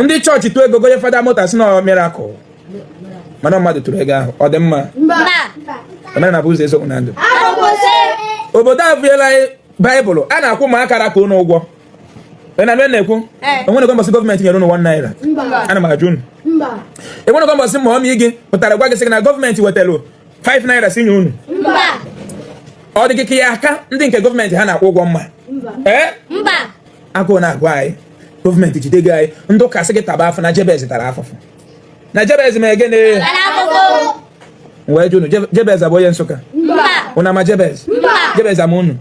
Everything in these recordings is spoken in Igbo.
ndị chọọchị tụọ ego gonye fada moto sị na ọ mirakụl mana mmadụ tụrụ ego ahụ ọ dị mma omenala bụ ụzọ eziokwu na ndụ obodo a bụela baịbụl a na-akwụ ụmụaka ra ka ụnụ ụgwọ na m na-ekwu enwenego mbọsị gọọmenti nyere ụnụ 1 naira ana m ajụ ụnụ enwenego mbọsị mọmị gị pụtara gwa gị sị na gọọmenti wetara 5 naira si nye ụnụ ọ dị gị ka ị ya-aka ndị nke gọọmenti ha na-akwụ ụgwọ mma ee agụụ na-agụ anyị gọọmenti jide gị anyị ndị ụka sị gị taba afụfụ na jebez tara afụfụ na jebez ma egene wee jụ unu jebez ọ bụ onye nsụka unu ama jebez jebez ama unu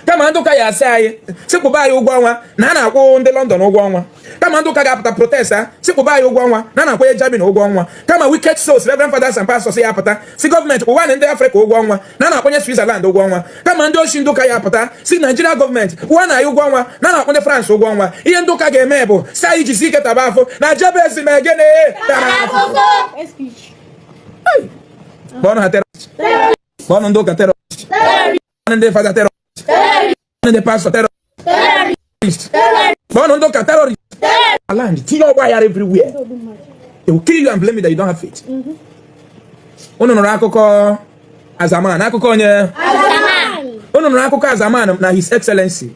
kama ndị ụka ya asị anyị sị kwụba anyị ụgwọ ọnwa na a na-akwụ ndị London ụgwọ ọnwa kama ndị ụka ga-apụta protest a sị kwụba anyị ụgwọ ọnwa na a na-akwụ ndị Germany ụgwọ ọnwa kama wicked souls Reverend Fathers and Pastors ya apụta sị gọọmenti kwụwanụ ndị Afrịka ụgwọ ọnwa na a na-akwụ ndị Switzerland ụgwọ ọnwa kama ndị oshi ndị ụka ya apụta sị Naijiria gọọmenti kwụwanụ anyị ụgwọ ọnwa na a na-akwụ ndị France ụgwọ ọnwa ihe ndị ụka ga-eme bụ sị anyị jisi ike taba afụfụ na jebez ma egene tara afụfụ kpọnụ ha terọrist kpọnụ ndị ụka terọrist kpọnụ ndị fada terọrist ndị pastọ terọrist kpọọnụ ndị ụka terọrist ala ndị tinye ọgba aghara everywhere they will kill you and blame you that you don't have faith unu nụrụ akụkọ azaman akụkọ onye unu nụrụ akụkọ azaman na his excellency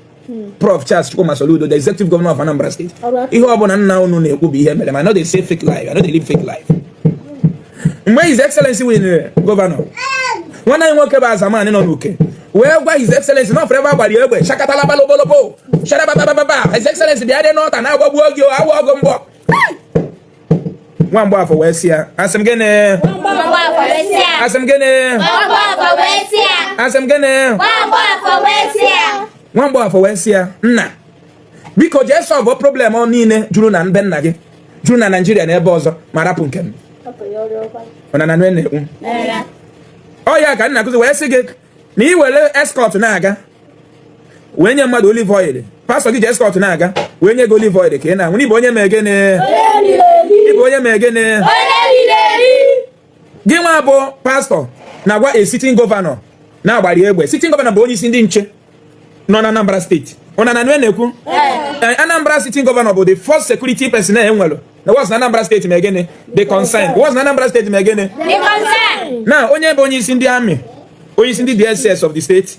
Prof Charles Chukwuma Soludo the executive governor of Anambra State ihe ọ bụla nna unu na-ekwu bụ ihe mere I no dey say fake life I no dey live fake life mgbe His Excellency winere eh, gọvanọ nwanne anyị nwoke bụ Azamanị nọ n'uke wee gwa His Excellency na ọ fụrụ ebe a gbara ya egbe shakatala balobolobo sharababababa His Excellency bịa dị n'ọta na-agbagbu oge awụ ọgụ mgbọ nwa mgbaafọ wee sị ya asị m gịnị asị m gịnị asị m gịnị nwa mgbaafọ wee sị ya nna biko jee sọlvụ problem niile juru na be nna gị juru na naijiria na ebe ọzọ ma rapụ nke m ọnana na-ekwu ọ ya ka nna kụzi wee sị gị na ị were eskọt na-aga wee nye mmadụ olive oil pastọ gị ji eskọt na-aga wee nye gị olive oil ka ị na-aṅụ na ị bụ onye ma egene ị bụ onye ma egene gị nwa bụ pastọ na-agwa a sitin gọvanọ na a gbara ya egbe sitin gọvanọ bụ onye isi ndị nche nọ na Anambra steeti ụna na nwe na-ekwu eh, Anambra sitin gọvanọ bụ the first security person e nwere na was na Anambra steeti ma gịnị the concern was na Anambra steeti ma gịnị na onye bụ onye isi ndị amị onye isi ndị DSS of the steeti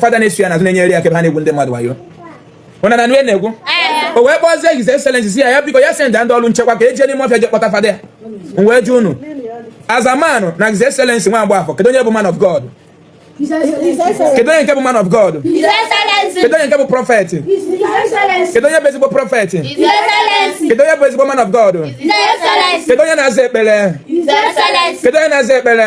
Father na-eso ya n'azụ na-enyere ya aka ebe ha na-egwu ndị mmadụ wayo ụna na nue na-egwu o wee kpọzie His Excellency sị ya ya biko ya send ndị ọrụ nchekwa ka e je n'ime ọfịa je kpọta Father ya wee jụ unu as a man na His Excellency nwa Mgbafọ kedu onye bụ man of God kedu onye nke bụ man of God kedu onye nke bụ prophet kedu onye bụ ezigbo prophet kedu onye bụ ezigbo man of God kedu onye na-aza ekpere kedu onye na-aza ekpere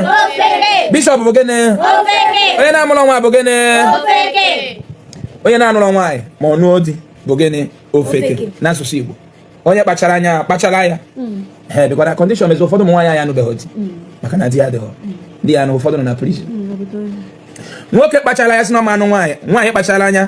bishop bụ gịnị onye na-amụrụ nwa bụ gịnị onye na-anụrụ nwaanyị ma ọ nụọ di bụ gịnị ofeke n'asụsụ Igbo onye kpachara anya kpachara ya hmm. ee because na condition mezi ụfọdụ ụmụ nwaanyị anyị anụbeghị di hmm. maka na di ya dịghọ hmm. di ya na ụfọdụ nọ na prison nwoke kpachara anya sị na ọ ma-anụ nwaanyị nwaanyị kpachara anya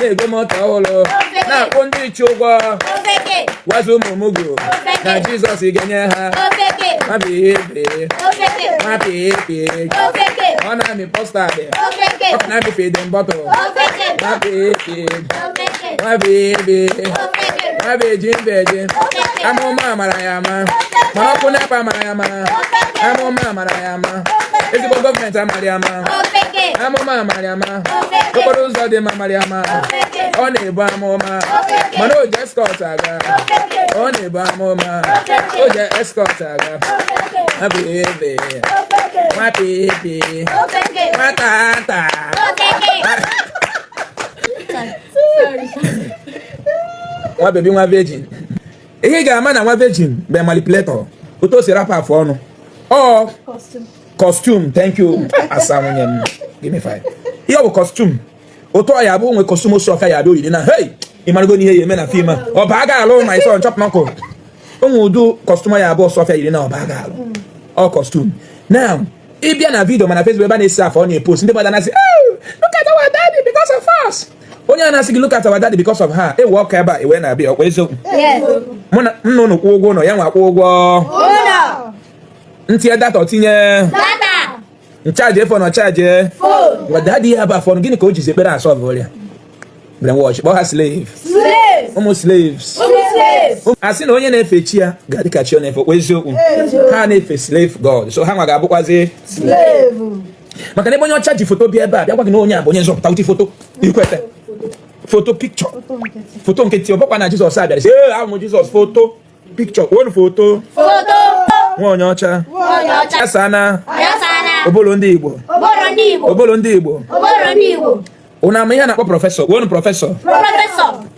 na-ego moto ọhụrụ na-akwụ ndị nche ụgwọ gwazi ụmụ mugu na jizọs ga-enye ha ọ na-amị custard ọ na-amị feeding bottle nwa virgin nwa virgin amụma amara ya ama mana ọkụ NEPA amara ya ama amụma amara ya ama ezigbo gọọmenti amara ya ama amụma amara ya ama okporo ụzọ dị mma amara ya ama ọ na-ebu amụma mana o ji escort aga ọ na-ebu amụma o ji escort aga nwa baby nwa baby nwa tata nwa baby nwa virgin ihe ị ga-ama na nwa virgin bụ a manipulator otu o si rapụ afụ ọnụ ọ costume thank you asa nwunye m give me five ihe ọ bụ costume otu ọ ya bụ o nwe costume osu ọka ya abịa oyiri na hey ịmarago n'ihe ya eme na film a ọ ba ga alụ my son chop knuckle o nwe ụdị costume ya bụ sọfịa yiri na ọ ba ga alụ ọ costume now ị bịa na video ma na Facebook ebe a na-esi afọ ọ na-epost ndị mmadụ na-asị "Oh, look at our daddy because of us onye a na-asị gị look at our daddy because of her ewe ọka ebe a iwe na-abịa ọkwa eziokwu Yes. mụ na ụnụ kwụ ụgwọ ụlọ ya nwa kwụ ụgwọ Ụlọ. m tinye data o tinye m charge phone ọ charge daddy ya bụ afụ ọnụ gịnị ka o jizi ekpere asọlvụ ọrịa brainwash kpọọ ha slave ụmụ slaves a sị na onye na-efe chi ya ga-adị ka chi ọ na-efe ọkwa eziokwu ha na-efe slave god so ha nwa ga-abụkwazi maka na ebe onye ọcha ji foto bịa ebe a bịa gwa gị na onye a bụ onye nzọpụta uche foto i kweta foto picture foto nkịtị ọ bụkwa na jizọs abịara sị ee ahụ m jizọs foto picture kwuonu foto nwa onye ọcha asana obolo ndị igbo obolo ndị igbo ụna ma ihe a na-akpọ prọfesọ kwuonu prọfesọ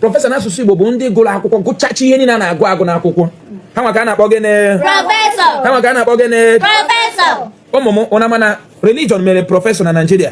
prọfesọ n'asụsụ igbo bụ ndị gụrụ akwụkwọ gụchacha ihe niile a na-agụ agụ n'akwụkwọ ha nwa ka a na-akpọ gịnị ha nwa ka a na-akpọ gịnị ụmụ m ụna ma na religion mere prọfesọ na naijiria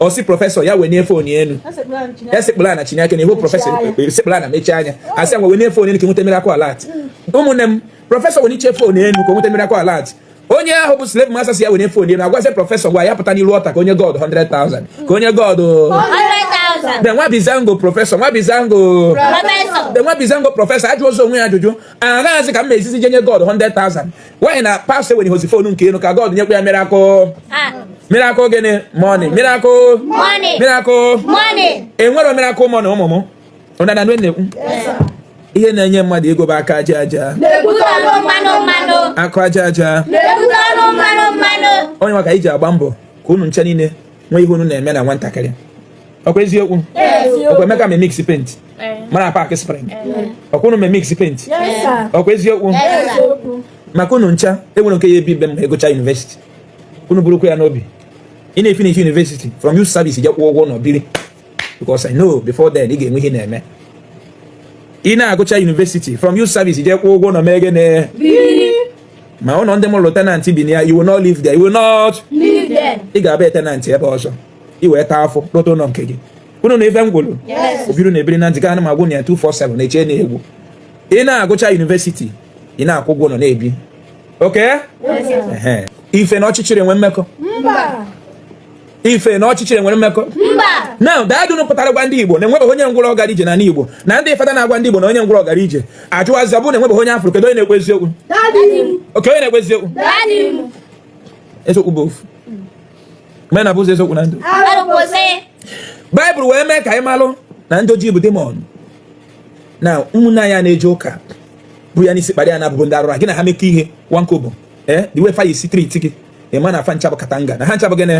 ọ sị prọfesọ ya wenie fon enu esekpulu ana chineke na ihu prọfesọ esekpulu ana mechie anya a sị ngwa wenie fon enu ka nweta miracle alert ụmụnne m prọfesọ weniche fon enu ka nweta miracle alert onye ahụ bụ slave master sị ya wenie fon enu agwazi prọfesọ gwa ya pụta n'iru ọta ka o nye god 100,000 ka o nye god then nwa bizango prọfesọ nwa bizango then nwa bizango prọfesọ ajụ ụzọ onwe ya ajụjụ aghaghịzi ka m mezizi je nye god 100,000 why na pastọ wenirozi fonu nke ya enu ka God nyekwa ya miracle miracle gịnị money miracle money miracle money enwerọ miracle money ụmụ m ụna na na-ekwu ihe na-enye mmadụ ego bụ aka aja aja aka aja aja onye maka iji agba mbọ ka unu ncha niile nwee ihe unu na-eme na nwatakịrị ọkwa eziokwu ọkwa emeka ma imix paint eh. mara paaki spring eh. ọkwa unu ma imix paint ọkwa eziokwu maka unu ncha enwerọ nke ya-ebi be m ọ gụcha yunivesiti unu burukwa ya n'obi ị na-efinish yunivesiti from youth service je kwụọ ụgwọ ụnọ biri because I know before then ị ga-enwe ihe ị na-eme ị na-agụcha yunivesiti from youth service je kwụọ ụgwọ ụnọ mee gịnị ma ụlọ ndị m rụrụ tenant bi na ya you will not live there you will not ị ga-abụ tenant ebe ọzọ i wee taa afụ lụta ụlọ nke gị unu na ife m kwuru obiru na ebiri na njikọ anụ magwụ na ya 247 na-eche na egwu ị na-agụcha yunivesiti ị na-akwụ ụgwọ ụlọ na-ebi okay ife na ọchịchịrị enwe mmekọ ife na ọchịchịrị nwere mmekọ na dadunu pụtara gwa ndị igbo na enwebeghị onye ngwụrọ gara ije na igbo na ndị fada na-agwa ndị igbo na onye ngwụrọ gara ije ajụ azịza bụ na enwebeghị onye a fụrụ kedu onye na-ekwu eziokwu oke onye na-ekwu eziokwu eziokwu bụ ofu mee na bụ ụzọ eziokwu na ndụ baịbụl wee mee ka anyị malụ na ndị ojii bụ demon na ụmụnne anyị a na-eje ụka bu ya n'isi kpara ya na abụbụ ndị arụra gị na ha mekọ ihe nwankobo ee eh, the way fa si treat gị ị ma na fa ncha bụ katanga na ha ncha bụ gịnị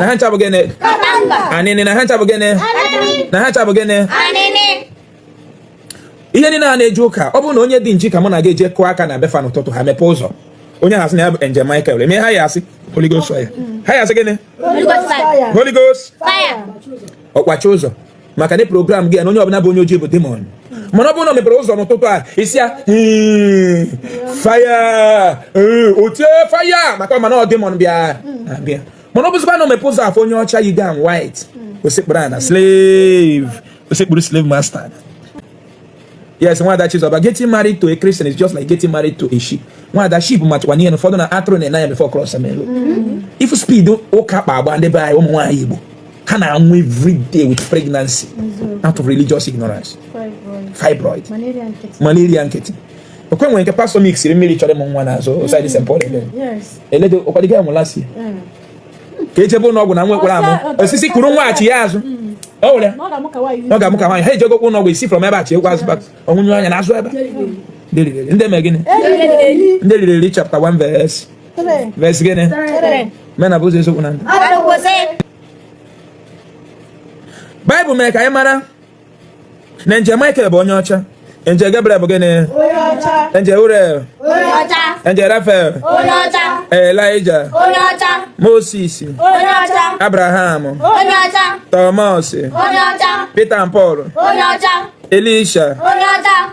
na ha ncha bụ gịnị anịnị na ha ncha bụ gịnị na ha ncha bụ gịnị ihe niile a na-eje ụka ọ bụrụ na onye dị nji ka mụ na gị eje kụọ aka na be fa n'ụtụtụ ha mepee ụzọ onye ha asị na ya bụ Angel Michael eme ha ya-asị Holy Ghost fire ha ya-asị gịnị Holy Ghost fire ọ kwachie ụzọ maka na program gị na onye ọbụla bụ onye ojii bụ demon mana ọ bụrụ na o mepere ụzọ n'ụtụtụ a isi ya hmm, fire hmm, o tie fire maka ọ ma na ọ demon bịa mana ọ bụzikwa na o mepe ụzọ fụ onye ọcha yi gown white o sekpuru ana slave o sekpuru slave master yes nwada chizọba getting married to a christian is just like getting married to a sheep nwada sheep matakwa n'ihe na ụfọdụ na atụrụ na-ene anya before cross main road mm-hmm. if speed ụka kpa agba ndị be anyị ụmụ nwaanyị igbo ha na-anwụ every day with pregnancy mm-hmm. out of religious ignorance fibroid malaria nkịtị ọkwa e nwere nke pastọ mixiri mmiri chọrọ ịmụ nwa n'azụ osaidi st paul eledo ụkwadịga ya nwụla si ka ejebe ụlọ ọgwụ na nwa ekwerọ amụ osisi kụrụ nwaghachi ya azụ ọ were ọ ga-amụ ka nwaanyị ha ejego ụlọ ọgwụ ọ si from ebe a chi egwu azụ ọ nwụnye anya n'azụ ebe ndị mee gịnị ndị riri eri chapta 1 verse verse gịnị mee na bụ ụzọ eziokwu na ndụ baịbụl mere ka anyị mara na angel Michael bụ onye ọcha angel Gabriel bụ gịnị angel Uriel angel Raphael Elijah Moses Abraham Thomas Peter and Paul Elisha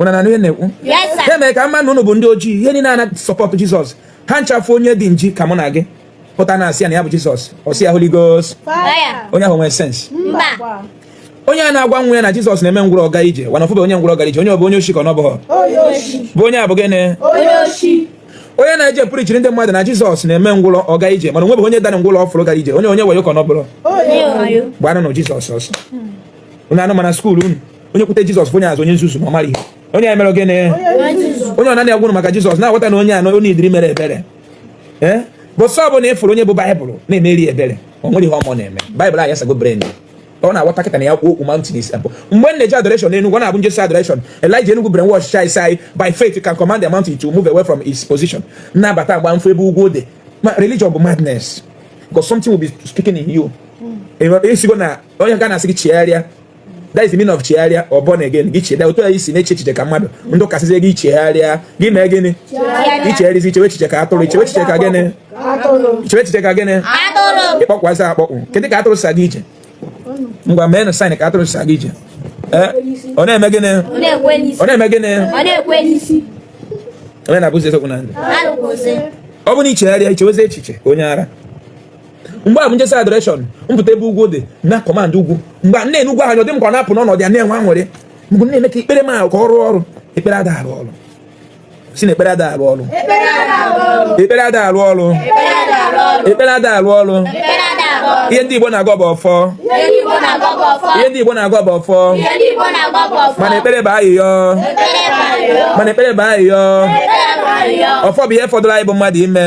ụna na ihe na-ekwu ya mere ka m ma na ụnụ bụ ndị ojii ihe niile a na-asupport jizọs ha ncha fụ onye dị nji ka mụ na gị pụta na-asị ya na ya bụ jizọs ọ sị ya holy ghost onye ahụ nwere sense onye na-agwa nwa ya na jizọs na-eme ngwụrọ ọ gaa ije mana ọ fụbe onye ngwụrọ ọ gaa ije onye ọ bụ onye oshi ka ọ na ọ bụghọ bụ onye a bụ gịnị onye na-eje preachiri ndị mmadụ na jizọs na-eme ngwụrọ ọ gaa ije mana o nwebe onye dara ngwụrọ ọ fụrụ gara ije onye onye wayo ka ọ na ọ bụrọ gbanụ na jizọs ọsọ hmm. onye anụ mana skuul unu onye kwute jizọs onye a bụ onye nzuzu ma ọ mara ihe onye a mere gịnị onye ọ naghị agwụrụ maka jizọs na-aghọta na onye anọ onye idiri mere ebere ee eh? because ọ bụ na ị fụrụ onye bu baịbụl na-emere ebere ọ nwere ihe ọ ma na-eme baịbụl anyị asago brain ọ na-aghọta kịta na ya kwuo okwu mountain is abụ mgbe m na-eje adoration n'Enugu ọ na-abụ m jesịa adoration Elijah Enugu brainwash chai sai by faith you can command the mountain to move away from its position na-abata agba mfe ebe ugwu dị religion bụ madness because something will be speaking in you esigo hmm. e na onye ụka na-asị gị chegharịa that is the meaning of chegharịa or born again gị chegharịa otu a i si na-eche echiche ka mmadụ ndị ụka asịzie gị chegharịa gị mee gịnị i chegharịzi i chewe echiche ka atụrụ i chewe echiche ka gịnị i chewe echiche ka gịnị ị kpọkwazi akpọkpụ kedụ ka atụrụ si aga ije ngwa meenụ sign ka atụrụ si aga ije eh? ọ na-eme gịnị ọ na-eme gịnị onye na-abụzi eziokwu na ndụ ọ bụ na i chegharịa i chewezi echiche onye ara mgbe ahụ bụ m jesịa adoration m pụta ebe ugwu dị na-command ugwu mgbe m na-ene ugwu ahụ dị m ka ọ na-apụ n'ọnọdụ ya na-enwe aṅụrị mgbe na-eme ka ekpere m ahụ ka ọ rụọ ọrụ ekpere ada arụ ọrụ sị na ekpere ada arụ ọrụ ekpere ada arụ ọrụ ekpere ada arụ ọrụ ihe ndị Igbo na-agọ bụ ọfọ ihe ndị Igbo na-agọ bụ ọfọ mana ekpere bụ ayịyọ mana ekpere bụ ayịyọ ọfọ bụ ihe fọdụrụ anyị bụ mmadụ ime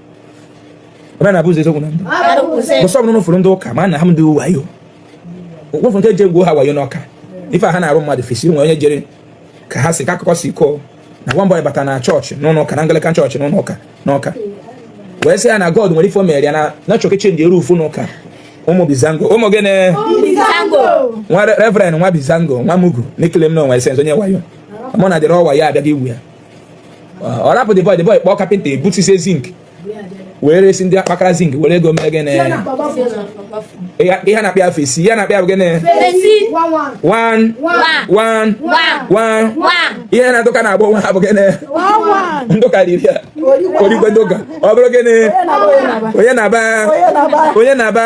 ebe na-abụ ụzọ eziokwu na ndụ because ọ bụ na ụfọdụ ndị ụka ma na ha ndị wayo ụfọdụ ndị eji egwu ha wayo n'Ọka ife ha na-arụ mmadụ fesi nwere onye jere ka ha si ka akụkọ si kọọ na nwa mbọyị bata na chọọchị n'ụlọ ụka na Anglican chọọchị n'ụlọ ụka n'Ọka wee sị ya na God nwere ife o mere ya na na chọọchị chenji eru ufu n'ụka ụmụ bizango ụmụ gịnị nwa reverend nwa bizango nwa mugu n'ikele m na o nwe sense onye wayo mụ na dịrị ọwa ya abịaghị igwu ya ọ rapụ the boy the boy kpọọ kapịnta ebutise zinc wee resi ndị akpakara zinc were ego mee gịnị ihe na-akpịa afọ esi ihe na-akpịa bụ gịnị ihe ndị ụka na-agba onwe ha bụ gịnị ndị ụka riri ya origwe ndị ụka ọ bụrụ gịnị onye na-aba onye na-aba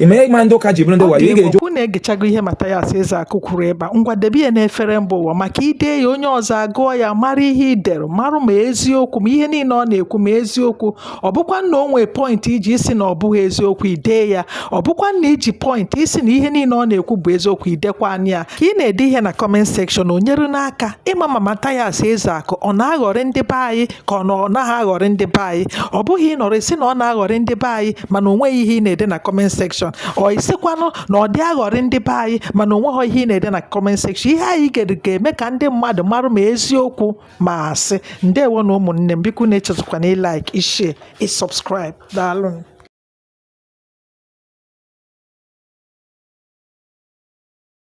ihe mere ndị ụka ji bụrụ ndị wayo ị ga-eji unu egechago ihe Mathias Ezeaku kwuru ebe a ngwa debe ya n'efere mba ụwa maka ide ya onye ọzọ agụọ ya mara ihe i dere marụ ma eziokwu ma ihe niile ọ na-ekwu ma eziokwu ọ bụkwa na o nwee point i ji sị na ọ bụghị eziokwu i dee ya ọ bụkwa na i ji point sị na ihe niile ọ na-ekwu bụ eziokwu i dekwaanụ ya ka ị na-ede ihe na comment section o nyere n'aka ịma ma Mathias Ezeaku ọ na-aghọrị ndị be anyị ka ọ na ọ naghị aghọrị ndị be anyị ọ bụghị ịnọrọ ị sị na ọ na-aghọrị ndị be anyị mana o nweghị ihe ị na-ede na comment section or ị sịkwanụ na ọ dị aghọrị ndị be anyị mana o nweghị ihe ị na-ede na comment section ihe anyị ga-eme ka ndị mmadụ marụ ma eziokwu ma asị ndewonụ ụmụnne m biko unu echezọkwana ị like ị share ị subscribe daalụ